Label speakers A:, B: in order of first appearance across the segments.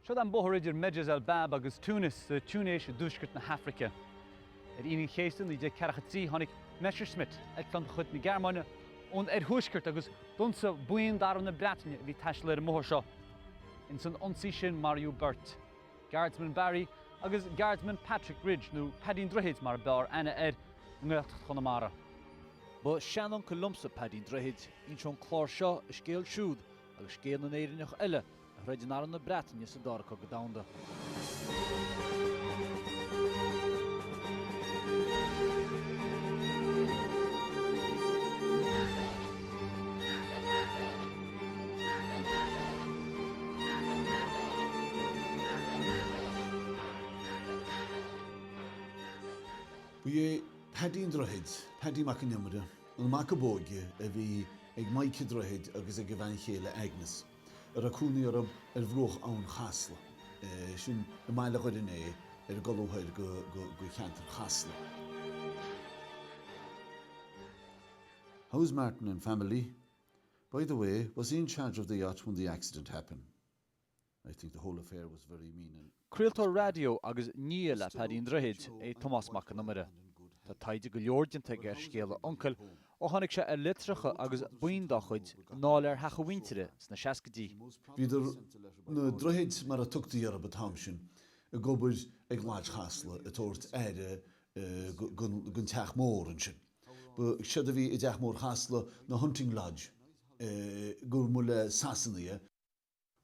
A: Siod an bóthar idir Medjez el Bab agus Tunis, sa Túinéis i dtuaisceart na hAfraice. Ar Aoine an Chéasta 1943 tháinig Messerschmitt, eitleán de chuid na Gearmáine, ón oirthuaisceart agus d'ionsaigh buíon d'arm na Breataine a bhí ag taisteal ar an mbóthar seo. Ins an ionsaí sin maraíodh beirt, Guardsman Barry agus Guardsman Patrick Ridge, nó Paddy an Droichid mar a b'fhearr aithne air i nGaeltacht Chonamara. Ba sheanuncail liomsa Paddy an Droichid. Inseoidh an clár seo a scéal siúd Agus scéal na nÉireannach eile a throid in arm na Breataine sa Dara Cogadh Domhanda. Ba é Paddy an Droichid, Paddy Mac an Iomaire, an mac ab óige a bhí ag Maidhc an Droichid agus ag a bhean chéile Agnes, a raibh cónaí orthu ar bhruach Abhainn Chasla, i mbaile Dhoire an Fhéich, ar an gcolbha thoir de cheantar Chasla. How's Martin and family? By the way, was he in charge of the yacht when the accident happened? I think the whole affair was very mean and. Craoltóir raidió agus nia le Paddy an Droichid é Tomás Mac an Iomaire. Tá taighde go leor déanta aige ar scéal a uncail ó tháinig sé ar litreacha agus boinn dá chuid in áiléar theach a mhuintire sna seascaidí. Bhíodar, na Droichid mar a tugtaí orthu an t-am sin, ag obair ag Lodge Chasla ag tabhairt aire don teach mór ansin. Ba séard a bhí i dteach mór Chasla, ná Hunting Lodge, i gcomhair móruaisle Shasana.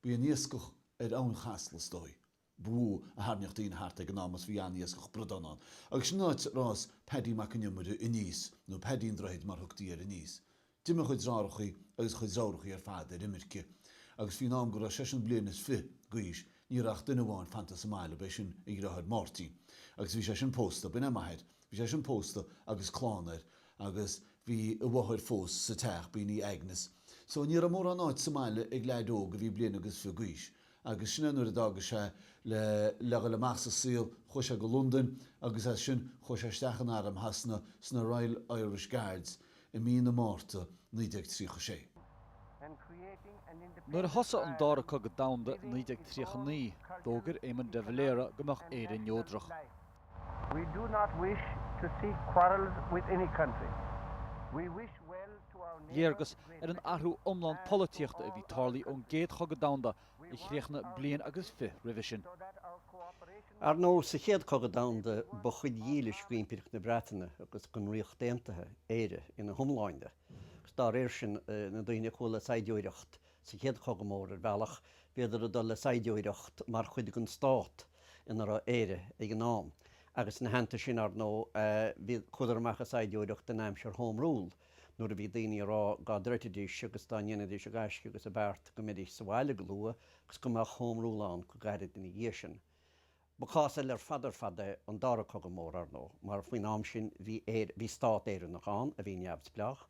A: B'í an iascach ar Abhainn Chasla, is dóigh, ba mhó a tharraingíodh daoine thart ag an am agus bhí an-iascach bradán ann. Agus sin an áit a fhás Paddy Mac an Iomaire aníos, nó Paddy an Droichid mar a thugtaí air aníos. D'imigh a chuid driothárachaí agus a chuid driofúrachaí ar fad ar imirce agus faoin am go raibh seisean bliain is fiche d'aois ní raibh ach duine amháin fanta sa mbaile, b'é sin a dhriotháir Máirtín. Agus bhí seisean pósta, b'in é m'athair, bhí seisean pósta agus clann air Agus bhí a mháthair fós sa teach, b'in í Agnes. So ní raibh mórán áit sa mbaile ag leaid óg a bhí bliain agus fiche d'aois. Agus sin é nuair a d'fhága sé le le dhul amach sa saol, chuaigh sé go Londain agus as sin chuaigh sé isteach in arm Shasana, sna Royal Irish Guards, i mí na Márta 1936. Nuair a thosaigh an Dara Cogadh Domhanda i 1939, d'fhógair Éamon de Valera go mbeadh Éire neodrach. We do not wish to seek quarrels with any country. We wish well to our neighbour, Great Britain, and to all our neighbours. Léargas ar an athrú iomlán polaitíochta a bhí tarlaithe ón gCéad Chogadh Domhanda a chríochnaigh bliain agus fiche roimhe sin. Ar ndóigh, sa Chéad Chogadh Domhanda, ba chuid dhílis d'Impireacht na Breataine agus den Ríocht Aontaithe Éire ina hiomláine, agus dá réir sin, na daoine a chuaigh le saighdiúireacht, Sa Chéad Chogadh Mór, ar bhealach, bhíodar ag dul le saighdiúireacht mar chuid den stát ina raibh Éire ag an am, agus ina theannta sin, ar ndóigh, chuadar amach ag saighdiúireacht in aimsir Home Rule, nuair a bhí daoine ag rá dá dtroidfidís agus dá ndéanfaidís a gaisce agus a beart go mbeidís sa bhaile go luath agus go mbeadh Home Rule ann go gairid ina dhiaidh sin. Ba chás eile ar fad ar fad é an Dara Cogadh Mór, ar ndóigh, mar faoin am sin bhí bhí stát Éireannach ann a bhí neamhspleách,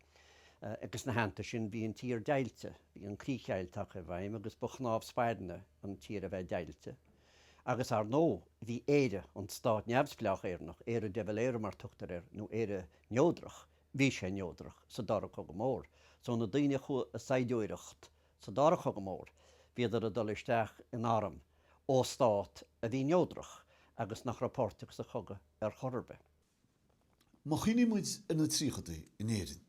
A: agus ina theannta sin bhí an tír deighilte, bhí an Críchdheighilt tagtha i bhfeidhm agus ba chnámh spairne an tír a bheith deighilte. Agus, ar ndóigh, bhí Éire, an stát neamhspleách Éireannach, Éire de Valera mar tugtar air, nó Éire Neodrach, bhí sé neodrach sa Dara Cogadh Mór. So na daoine a chuaigh ag saighdiúireacht, Sa Dara Cogadh Mór, bhíodar ag dul isteach in arm ó stát a bhí neodrach agus nach raibh páirteach sa chogadh ar chor ar bith. Má chuimhníonn muid ar na tríochadaí in Éirinn,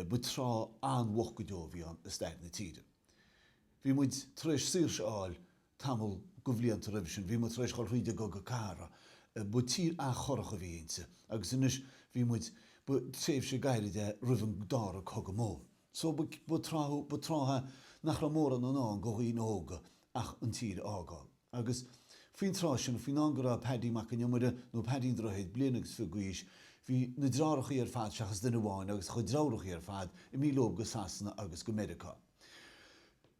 A: ba tráth an-mhoch go deo a bhí ann i stair na tíre. Bhí muid tar éis saoirse a fháil tamall go bhlianta roimhe sin, bhí muid tar éis dhul thríd an gcogadh cathartha, ba tír an-chorrach a bhí inti, agus anois bhí muid, ba tréimhse gairid é roimh an Dara Cogadh Mór. Só ba tráth nach raibh mórán i ndán do dhaoine óga ach an tír a fhágáil. Agus faoin tráth sin, faoin am go raibh Paddy Mac an Iomaire, nó Paddy an Droichid, bliain agus fiche d'aois, bhí na driofúrachaí ar fad, seachas duine amháin, agus a chuid dreárachaí ar fad, imithe leob go Sasana agus go Meiriceá.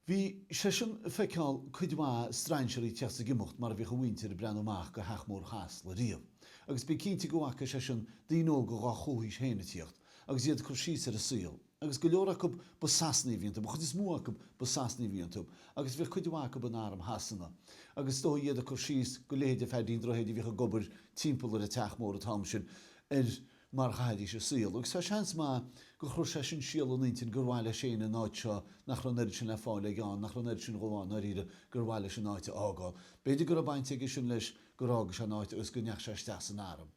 A: Bhí seisean ag feiceáil cuid mhaith strainséaraí ag tíocht is ag imeacht mar a bhíodh a mhuintir ag breathnú amach go Theach Mór Chasla riamh, agus bí cinnte go bhfaca seisean daoine óga dhá chomhaois féin ag tíocht agus iad ag cur síos ar an saol, agus go leor acu ba Sasanaigh a bhí iontu, an chuid is mó acu ba Sasanaigh a bhí iontu, agus bhíodh cuid mhaith acu in arm Shasana, agus is dóigh iad ag cur síos go leithéid de Pheaidí an Droichid a bhíodh ag obair timpeall ar an Teach Mór an t-am sin, ar mar a chaithidís a saol, agus tá seans maith gur chuir sé sin síol ina intinn gur mhaith leis féin an áit seo nach raibh an oiread sin le fáil aige ann, nach raibh an oiread sin go mhaith ann, ndáiríre, gur mhaith leis an áit a fhágáil. B'fhéidir go raibh baint aige sin leis gur fhága sé an áit agus go ndeach sé isteach san arm.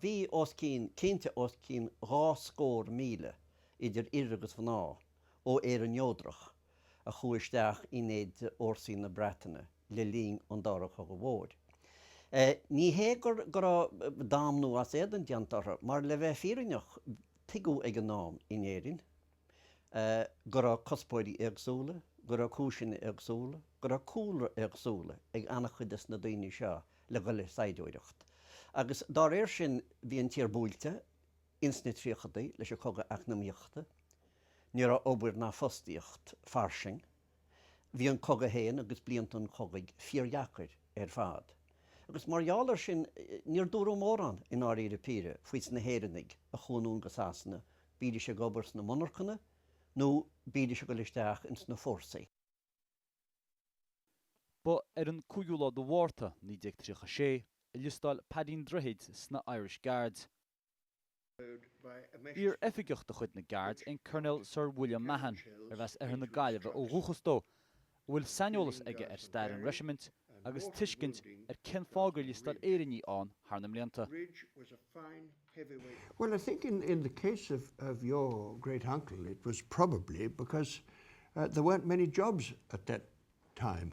A: Bhí os cionn, cinnte os cionn dhá scór míle idir fhir agus mhná ó Éirinn neodrach a chuaigh isteach in éide fhórsaí na Breataine le linn an Dara Cogadh Mhóir. Ní hé go raibh damnú as éadan déanta orthu, mar le bheith fírinneach tuigeadh ag an am in Éirinn go raibh cuspóirí éagsúla, go raibh cúiseanna éagsúla, go raibh cúlra éagsúla ag an-chuid de na daoine seo le dul ag saighdiúireacht. Agus dá réir sin bhí an tír báúil. Ins na tríochadaí, leis an chogadh eacnamaíochta, ní raibh obair ná fostaíocht fairsing. Bhí an cogadh féin agus blianta an chogaidh fíordheacair ar fad, agus mar gheall air sin, níor dúradh mórán, i ndáiríre píre, faoi sna hÉireannaigh a chuaigh anonn go Sasana, bídís ag obair sna monarchana nó bídís ag dul isteach ins na fórsaí. Ba ar an 5ú lá de Mhárta, 1936, a liostáil Peaidín Droichid sna Irish Guards. Iar oifigeach de chuid na nGardaí é an Coirnéal Sir William Mahon, arbh as oirthear na Gaillimhe ó dhúchas dó, a bhfuil saineolas aige ar stair an reisimint agus tuiscint ar cén fáth gur liostáil Éireannaigh ann thar na mblianta. Bhuel, I think in in the case of of your great uncle it was probably because uh there weren't many jobs at that time.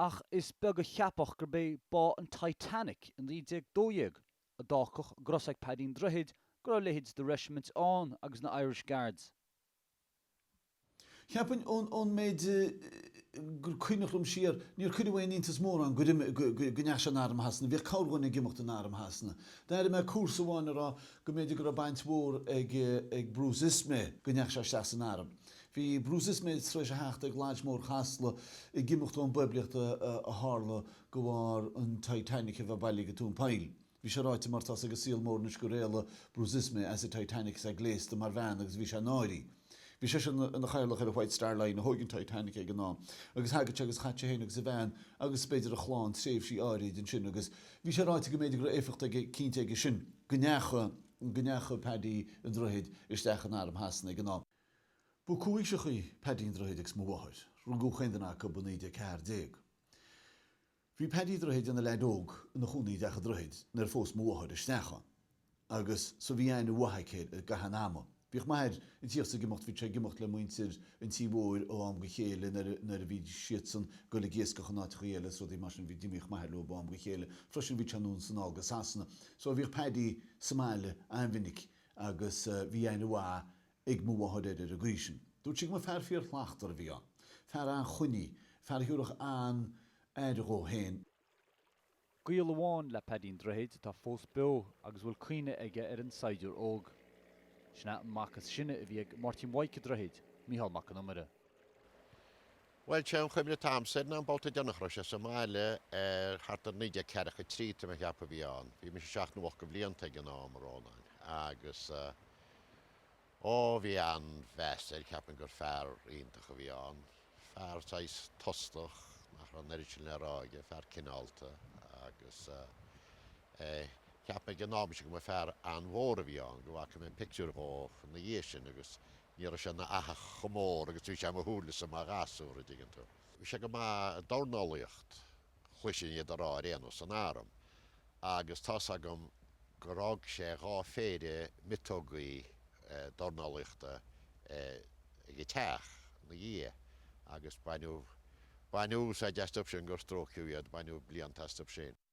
A: Ach is beag a cheapfadh gurb é bá an Titanic i 1912 a d'fhágfadh go raibh a fhios ag Peaidín Droichid go raibh leithéid de reisimint ann agus na Irish Guards. Cheapfainn, ón méid gur cuimhneach liom siar, níor cuireadh aon iontas mórán go ndeachaigh sé in Arm Shasana. Bhíodh corrdhuine ag imeacht in Arm Shasana. D'airigh mé comharsa amháin a rá go mb'fhéidir go raibh baint mhór ag Bruce Ismay go ndeachaigh sé isteach san arm. Bhí Bruce Ismay tar éis a theacht ag Lodge Mór Chasla ag imeacht ón bpoiblíocht a tharla de bharr an Titanic a bheith bailithe go tóin poill. Bhí sé ráite mar tá's ag an saol mhór anois gur éalaigh Bruce Ismay as an Titanic is é gléasta mar bhean agus bhí sé ina náire. Bhí seisean ina chathaoirleach ar an White Star Line a thóig an Titanic ag an am agus thagadh sé agus chaitheadh sé féin agus a bhean agus b'fhéidir a chlann tréimhsí áirid ansin agus bhí sé ráite go mb'fhéidir go raibh éifeacht aige cinnte aige sin go ndeachaigh Paddy an Droichid isteach in arm Shasana ag an am. Ba chomhaoiseachaí Paddy an Droichid agus mo mháthair. Rugadh chaon duine acu i 1914. Bhí Paddy an Droichid ina leaid óg ina chónaí i dteach an Droichid nuair a phós mo mháthair isteach ann. Agus so bhí aithne mhaith aici air i gcaitheamh an ama. Bhíodh m'athair an-tugtha ag imeacht, bhíodh sé ag imeacht le muintir an tí mhóir ó am go chéile nuair, nuair a bhí siadsan ag goil ag iascach in áiteachaí eile is rudaí mar sin, d'imíodh m'athair leo ó am go chéile. Freisin bhí sé anonn is anall go Sasana. So bhíodh Paddy sa mbaile an-mhinic. agus bhí aithne mhaith ag mo mháthair air ar an gcaoi sin. Dúirt sí go mba fear fíor-shlachtmhar a bhí ann, fear an-chruinn, fear a thiúrfadh an-aire dhó féin. Gaol amháin le Peaidín Droichid atá fós beo agus a bhfuil cuimhne aige ar an saighdiúir óg. Sin é an mac is sine a bhí ag Máirtín Mhaidhc Droichid, Micheál Mac an Iomaire. Bhuel sé an chuimhne atá agamsa air ná bolta den chéad uair sa mbaile ar thart ar 1943, tá mé ag ceapadh a bhí ann. Bhí mise seacht nó ocht de bhlianta ag an am, a Rónáin, agus ó, bhí an-mheas air, cheap mé gur fear iontach a bhí ann. Fear saghas tostach, nach raibh an oiread sin le rá aige, fear cineálta, agus eh, cheap mé ag an am sin go mba fear an-mhór a bhí ann, go bhfaca mé pictiúir dhó ina dhiaidh sin, agus Ní raibh sé ina fhathach chomh mór agus a bhí sé i mo shúilesa mar ghasúr, a' dtuigeann tú. Bhí sé go maith i dornálaíocht, chloisinn iad a' rá ar aon nós, san arm. Agus tá's agam gur fhág sé dhá phéire miotógaí dornálaíochta ag a' teach 'na dhiaidh agus baineadh, baineadh úsáid astu sin gur stróiceadh iad, baineadh blianta astu sin.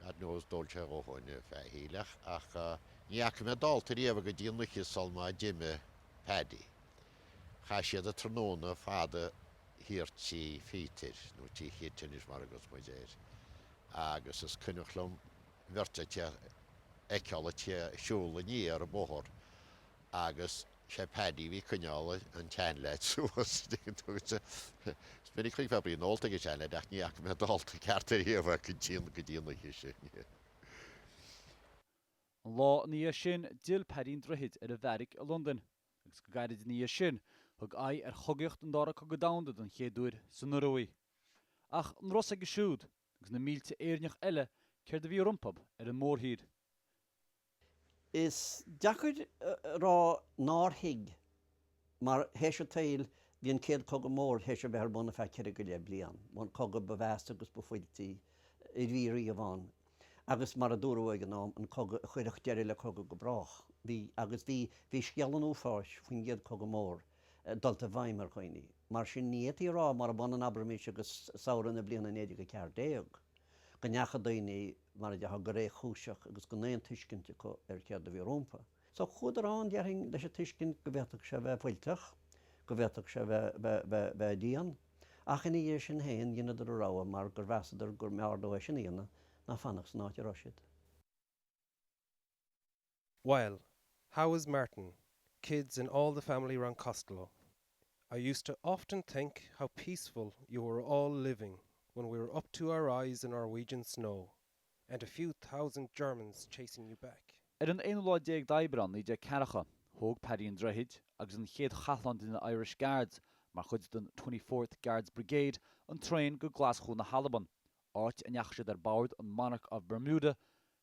A: Ar aon nós d'óladh sé a dhóthain faichilleach ach ní fhaca mé dallta riamh é go dtí an oíche sul má d'imigh Paddy. Chaith siad an tráthnóna fada thiar tí Phíotair, nó tí Khit anois mar a thugas muid air, agus is cuimhneach liom bheirt acu a fheiceáil a' tíocht a' siúl aniar an bóthar agus. Sé Paddy a bhí ag coinneáil an tseanleaid suas. Is minic a d'fheicfeá braon ólta ag an seanleaid, ach ní fhaca mé dallta ceart ariamh é go dtí an oíche sin. An lá ina dhiaidh sin, d'fhill Paddy an Droichid ar a bheairic i Londain, agus go gairid ina dhiaidh sin, thug aghaidh ar chogaíocht an Dara Cogadh Domhanda den chéad uair san Ioruaidh. Ach an raibh a fhios aige siúd, Agus na mílte Éireannach eile, céard a bhí rompu ar an mórthír? Is deacair a rá nár thuig. Mar théis an tsaoil, bhí an Céad Cogadh Mór théis a bheith ar bun ar feadh ceithre go leith bliain, an cogadh ba mheasa agus ba fuiltí a bhí riamh ann, agus mar a dúradh ag an am, an cogadh a chuirfeadh deireadh le cogadh go brách. Bhí, agus bhí, bhí scéal an uafáis faoin gCéad Chogadh Mór, dul i bhfeidhm ar dhaoine. Mar sin, ní fhéadfaí a rá, murab ionann abraimis agus samhradh na bliana 1914, go ndeachaigh daoine, mar a déarfá, go réchúiseach agus gan aon tuiscint acu ar céard a bhí rompu. So, chuadar ann, déarfainn, leis an tuiscint go bhféadfadh sé a bheith fuilteach, go bhféadfadh sé a bheith dian, ach ina dhiaidh sin féin, dheineadar a rogha mar gur mheasadar go mb'fhearr leo é sin a dhéanamh ná fanacht san áit a raibh siad. Well, how is Martin, kids and all the family round Costello? I used to often think how peaceful you were all living when we were up to our eyes in Norwegian snow and a few thousand Germans chasing you back. Ar an aonú lá déag d'Aibreán, naoi déag ceathracha, thóg Paddy an Droichid agus an chéad chathlán de na Irish Guards, mar chuid den Twenty Fourth Guards Brigade, an traein go Glaschú na hAlban, áit a ndeachaigh siad ar bord an Monarch of Bermuda,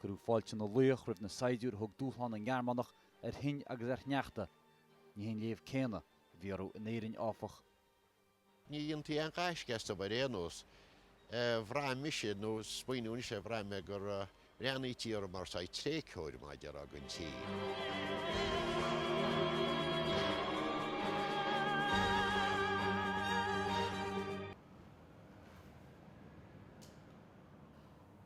A: Cuireadh fáilte na laoch roimh na saighdiúirí a thug dúshlán na nGearmánach ar thoinn agus ar shneachta. Ní hé an léamh céanna a bhí orthu in Éirinn, áfach. Ní dhéantaí aon ghaisce as dóibh ar aon nós. Bhraith mise, nó smaoiníodh mise, bhraith mé gur bhreathnaítí orm mar saghas tréigtheoir, mar a déarfá.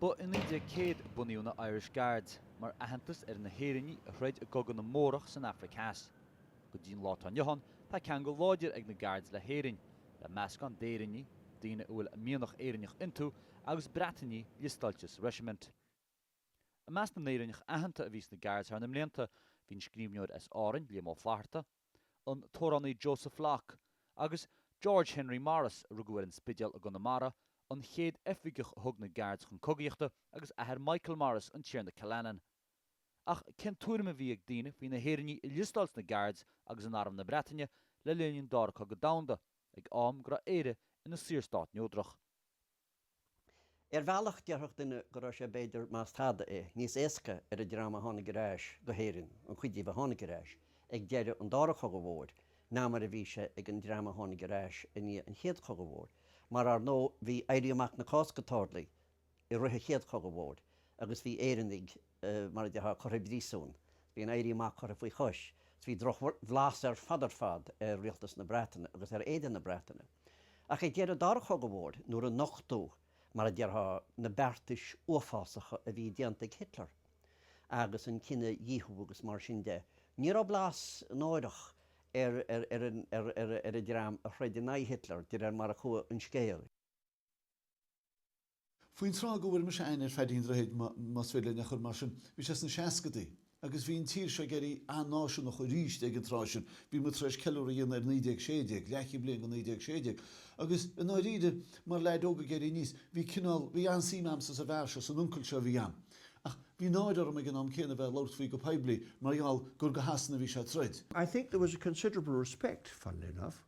A: Ba i 1900 a bunaíodh na Irish Guards, mar aitheantas ar na hÉireannaigh a throid i gcogadh na mBórach san Afraic Theas. Go dtí an lá atá inniu ann, tá ceangal láidir ag na Guards le hÉirinn, le meascán d'Éireannaigh, daoine a bhfuil mianach Éireannach iontu, agus Breatainigh liostáilte sa reisimint. I measc na nÉireannach aitheanta a bhí sna Guards thar na blianta, bhí an scríbhneoir as Árainn, Liam Ó Flaithearta, an t-amhránaí Josef Locke, agus George Henry Morris, a rugadh ar an Spidéal i gConamara, an chéad oifigeach a thug na Guards chun cogaíochta, agus athair Michael Morris, an Tiarna Killanin. Ach cén tuairim a bhí ag daoine faoi na hÉireannaigh a liostáil sna Guards agus in Arm na Breataine le linn an Dara Cogadh Domhanda, ag am go raibh Éire ina saorstát neodrach? Ar bhealach, déarfadh duine go raibh sé, b'fhéidir, más tada é, níos éasca ar an dream a tháinig ar ais go hÉirinn, an chuid díobh a tháinig ar ais, ag deireadh an Dara Cogadh Mhóir, ná mar a bhí sé ag an dream a tháinig ar ais i ndiaidh an Chéad Chogaidh Mhóir. Mar, ar ndóigh, bhí Éirí Amach na Cásca tarlaithe i rith an Chéad Chogaidh Mhóir, agus bhí Éireannaigh, mar a déarfá, curtha i bpríosún. Bhí an tÉirí Amach curtha faoi chois. Bhí drochbhlas ar fad ar fad ar rialtas na Breataine agus ar éide na Breataine. Ach ag deireadh an Dara Cogaidh Mhóir, nuair a nochtadh, mar a déarfá, na beartais uafásacha a bhí déanta ag Hitler, agus an cinedhíothú agus mar sin de, ní raibh blas náireach ar an dream a throid in aghaidh Hitler, de réir mar a chuaigh an scéal. Faoin tráth go bhfuair mise aithne ar Pháidín Droichid, más féidir linn é a chur mar sin, bhí sé sna seascadaí. Agus bhí an tír seo ag éirí an-náisiúnach arís ag an tráth sin, bhí muid tar éis ceiliúradh a dhéanamh ar 1916, leathchéad bliain go 1916. Agus i ndáiríre, mar leaid óg ag éirí aníos, bhí cineál, bhí an-suim a'msa sa bhfear seo, san uncail seo a bhí a'm. Ach bhí náire orm ag an am céanna a bheith ag labhairt faoi go poiblí, mar gheall gur do Shasana a bhí sé ag troid. I think there was a considerable respect, funnily enough.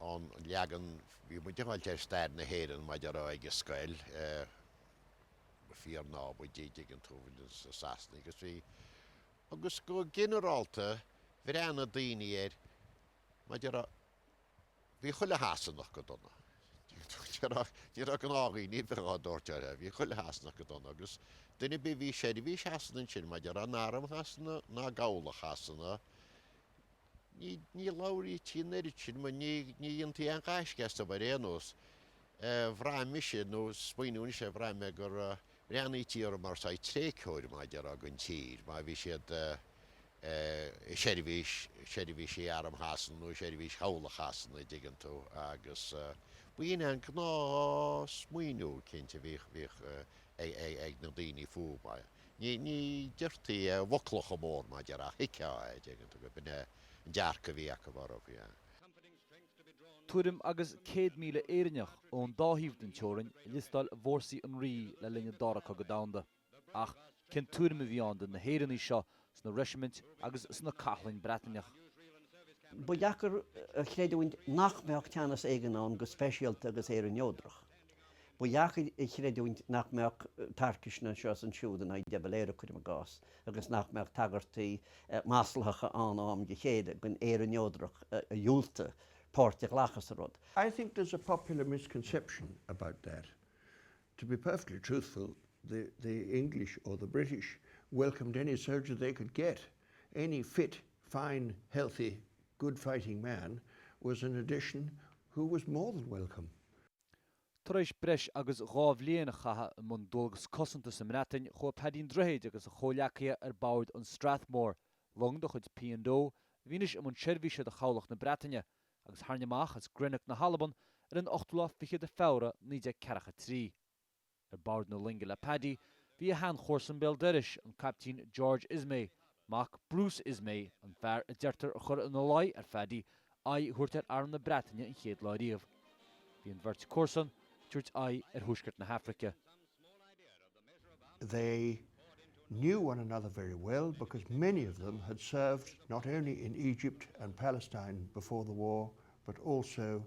A: ón leagan a bhí muid ag fáil de stair na hÉireann maidir le ag an scoil, go fíor-naimhdeach, dtuigeann tú, do na Sasanaigh agus bhí, agus go ginearálta bhreathnaigh daoine air maidir le, bhí chuile Shasanach go dona, dtuigeann tú, ní raibh, ní raibh gnáthdhaoine a bheadh á dtabhairt orthu, bhí chuile Shasanach go dona, agus duine ar bith a bhí i seirbhís Shasana ansin, maidir le in arm Shasana nó i gcabhlach Shasana, Ní labhraítí an oiread sin, nó ní dhéantaí aon ghaisce astu ar aon nós. Bhraith mise, nó smaoineamh anois é, bhraith mé gur bhreathnaítí orthu mar saghas tréigtheoir mar déarfá don tír, má bhí siad i seirbhís, seirbhísí arm Shasana nó i seirbhís chabhlach Shasana, a' dtuigeann tú, agus ba shin é an gnáthsmaoineamh, cinnte, a bhíodh ag na daoine fúthu. Ní deirtí i bhfoclacha móra mar déarfá ach thuigfeá é, a' dtuigeann tú, go b'in é an dearcadh a bhí acu orthu. Tuairim agus 100,000 Éireannach ón dá thaobh den teorainn a liostáil i bhFórsaí an Rí le linn an Dara Cogadh Domhanda. Ach cén tuairim a bhí ann de na hÉireannaigh seo sna reisimint agus sna cathláin Breataineach? Ba dheacair a chreidiúint nach mbeadh teannas éigin ann go speisialta agus Éire neodrach. Ba dheacair a chreidiúint nach mbeadh tarcaisne anseo is ansiúd in aghaidh De Valera, cuirim i gcás, agus nach mbeadh tagairtí maslacha ann ó am go chéile don Éire neodrach a dhiúltaigh páirt a ghlacadh sa rud. I think there's a popular misconception about that. To be perfectly truthful, the the English or the British welcomed any soldier they could get. Any fit, fine, healthy, good fighting man was an addition who was more than welcome. Tar éis breis agus dhá bhliain a chaitheamh i mbun dualgas cosanta sa mBreatain, chuaigh Paddy an Droichid agus a chomhleacaithe ar bord an Strathmore, long de chuid P and O a bhí anois i mbun seirbhíse do chabhlach na Breataine, agus tharraing amach as Greenock na hAlban ar an ochtú lá fichead de Feabhra 1943. Ar bord na loinge le Paddy bhí a shean-chomharsan béal doiris, an Caiptín George Ismay, mac Bruce Ismay, an fear a deirtear a chuir ina luigh ar Phaddy aghaidh a thabhairt ar arm na Breataine an chéad lá riamh. Bhí an bheirt comharsan ag tabhairt aghaidh ar thuaisceart na hAfraice. They knew one another very well because many of them had served not only in Egypt and Palestine before the war but also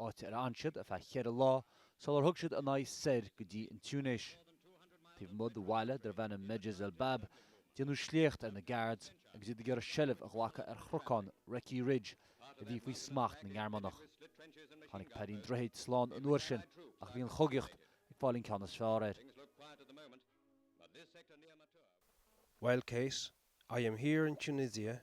A: áit ar fhan siad ar feadh cheithre lá sular thug siad a n-aghaidh soir go dtí an Túinéis. Taobh amuigh de bhaile darb ainm Medjez el Bab, déanadh sléacht ar na Guards agus iad ag iarraidh seilbh a ghlacadh ar chnocán, Recce Ridge, a bhí faoi smacht na nGearmánach. Tháinig Paddy an Droichid slán an uair sin, ach bhí an chogaíocht ag fáil an ceann is fearr air. Well Kate, I am here in Tunisia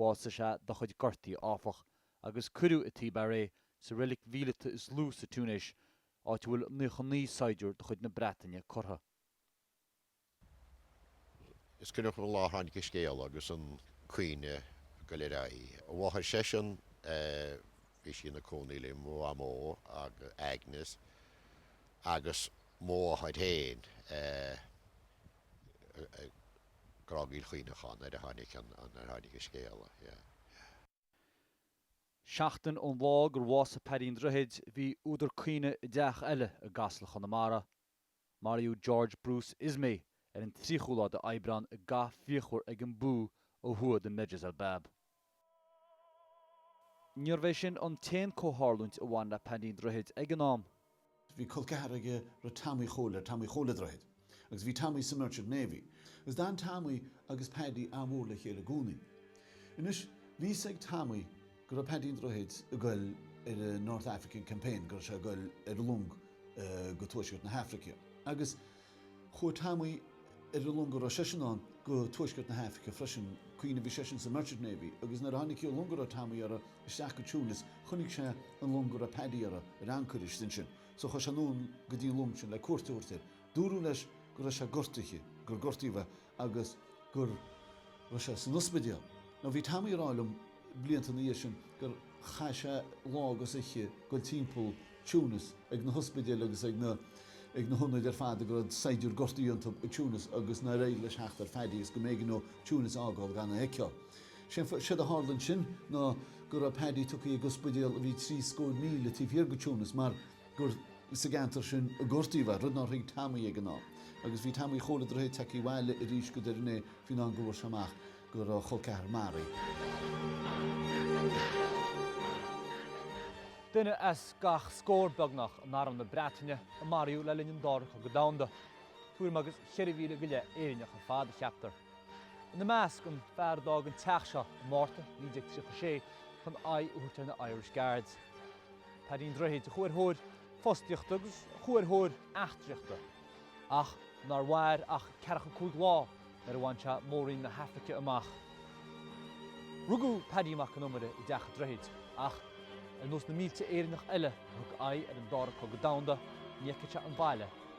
A: Bhásaigh sé dá chuid gortaí áfach, agus cuireadh i Thibar é, sa reilig mhíleata is lú sa Túinéis, áit a bhfuil 99 saighdiúir de chuid na Breataine curtha. Is cuimhneach liom an lá a tháinig an scéal agus an caoineadh ag dul ar aghaidh. A mháthair seisean, bhí sí ina cónaí le mo mhamó, Agnes, agus mo mháthair féin. Grágaíl chaoineacháin, nuair a tháinig an, an, nuair a tháinig an scéala, yeah, yeah. Seachtain ón lá gur bhásaigh Paddy an Droichid, bhí údar caoineadh i dteach eile i gCasla, Chonamara. Maraíodh George Bruce Ismay ar an tríochú lá de Aibreán i gcath fíochmhar ag an Bou ó thuaidh de Medjez el Bab. Níorbh é sin an t-aon comhtharlúint a bhain le Paddy an Droichid ag an am. Bhí col ceathar aige Tommy Chóil, Tommy Chóil a' Droichid, agus bhí Tommy sa Merchant Navy, agus d'fhan Tommy agus Paddy an-mhór le chéile i gcónaí. Anois, bhí fhios ag Tommy go raibh Paddy an Droichid ag goil ar an North African Campaign, go raibh sé ag goil ar long go tuaisceart na hAifrice, agus. Chuaigh Tommy ar an long a raibh seisean ann go tuaisceart na hAifrice freisin. Cuimhnigh bhí seisean sa Merchant Navy agus nuair a tháinig an long a raibh Tommy air isteach go Tunis chonaic sé an long a raibh Paddy air ar ancaire istigh ansin. So chuaigh sé anonn go dtí an long sin le cuairt a thabhairt air. Dúradh leis go raibh sé gortaithe, gur gortaíodh é. agus go raibh sé san ospidéal. Now bhí Tommy ag rá liom blianta ina dhiaidh sin gur chaith sé lá agus oiche ag dul timpeall Tunis ag na hospidéil agus ag na ag na hionaid ar fad a raibh saighdiúirí gortaithe iontu i Tunis agus nár éirigh leis theacht ar Phaddy agus go mb'éigean leo Tunis a fhágáil gan é a fheiceáil. Séard a tharla ansin ná go raibh Paddy tugtha ag ospidéal a bhí trí scór míle taobh thiar de Tunis mar gur sa gceantar sin a gortaíodh é, rud nár thuig Tommy ag an am. Agus bhí Tommy Chóil a' Droichid tagtha abhaile arís go Doire Né faoin am go bhfuair sé amach go raibh a chol ceathar marbh. Duine as gach scór beagnach in arm na Breataine a maraíodh le linn an Dara Cogadh Domhanda. Tuairim agus 4,000 go leith Éireannach ar fad, a cheaptar. Ina measc, an fear a d'fhág an teach seo i Márta 1936 chun aghaidh a thabhairt ar na Irish Guards. Paddy an Droichid a chuaigh ar thóir fostaíochta agus a chuaigh ar thóir eachtraíochta, ach nár mhair ach ceathracha cúig lá nuair a bhain sé Mór-roinn na hAifrice amach. Rugadh Paddy Mac an Iomaire i dTeach an Droichid, ach ar nós na mílte Éireannach eile a thug aghaidh ar an Dara Cogadh Domhanda, ní fheicfeadh sé an baile,